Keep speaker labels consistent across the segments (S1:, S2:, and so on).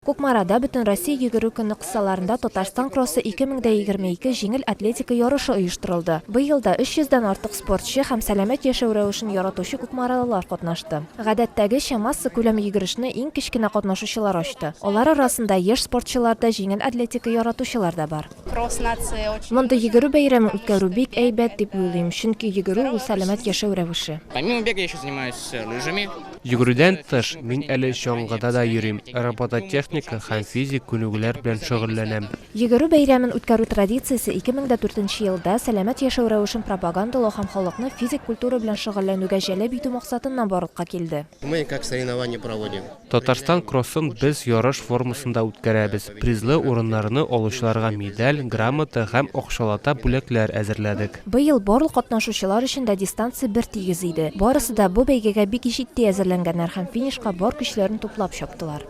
S1: Кукмарада Бөтенроссия йөгерү көне кысаларында Татарстан кроссы 2022 җиңел атлетика ярышы оештырылды. Быел да 300 дән артык спортчы һәм сәламәт яшәү рәвешен яратучы кукмаралылар катнашты. Гадәттәгечә, массакүләм йөгерешне иң кечкенә катнашучылар ачты. Алар арасында яшь спортчылар да, җиңел атлетика яратучылар да бар. Мондый йөгерү бәйрәмен үткәрү бик әйбәт дип уйлыйм, чөнки йөгерү ул сәламәт яшәү рәвеше.
S2: Йөгерүдән тыш,
S3: мин әле чаңгыда да йөрим, робототехника һәм физик күнегүләр белән шөгыльләнәм. Йөгерү бәйрәмен
S1: үткәрү традициясе 2004 елда сәламәт яшәү рәвешен пропагандалау һәм халыкны физик культура белән шөгыльләнүгә җәлеп итү максатыннан барлыкка килде.
S4: Татарстан кроссын
S3: без ярыш формасында үткәрәбез. Призлы урыннарны алучыларга медаль, грамота һәм акчалата бүләкләр әзерләдек. Быел барлык
S1: катнашучылар өчен дә дистанция бертигез иде. Барысы да бу бәйгегә бик җитди әзерләнгәннәр һәм финишка бар көчләрен туплап чаптылар.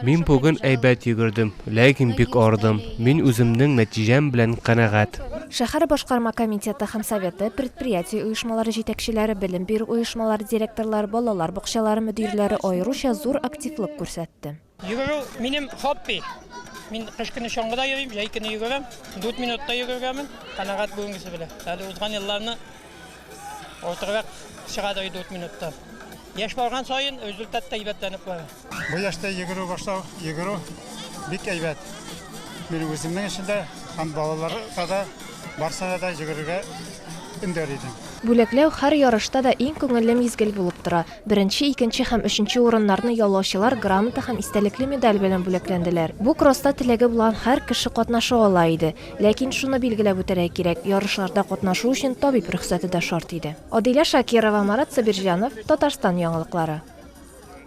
S3: Мин бүген әйбәт йөгердем, ләкин бик арыдым. Мин үземнең нәтиҗәм белән канәгать. Шәһәр башкарма
S1: комитеты һәм советы, предприятие оешмалары җитәкчеләре, белем бирү оешмалары директорлары, балалар бакчалары мөдирләре аеруча зур активлык күрсәтте. Йөгерү минем
S5: хобби. Мин кыш көне чаңгыда йөрим, җәй көне йөгерәм. 4 минутта йөгергәмен. Канагат бүгенгесе белән. Әле узган елларны ортырак чыга да 4 минутта. Яшь барган саен результат та әйбәтләнеп бара. Бу яшьтә йөгерү
S6: башлау, йөгерү бик әйбәт. Мин үземнең өчен дә һәм балаларга да барсына да йөгерергә өндәр идем. Бүләкләү һәр
S1: ярышта да иң күңелле мизгел булып тора. Беренче, икенче һәм өченче урыннарны яулаучылар грамота һәм истәлекле медаль белән бүләкләнделәр. Бу кросста теләге булган һәр кеше катнаша ала иде. Ләкин шуны билгеләп үтәргә кирәк, ярышларда катнашу өчен табиб рөхсәте дә шарт иде. Адилә Шакирова, Марат Сабирҗанов, Татарстан яңалыклары.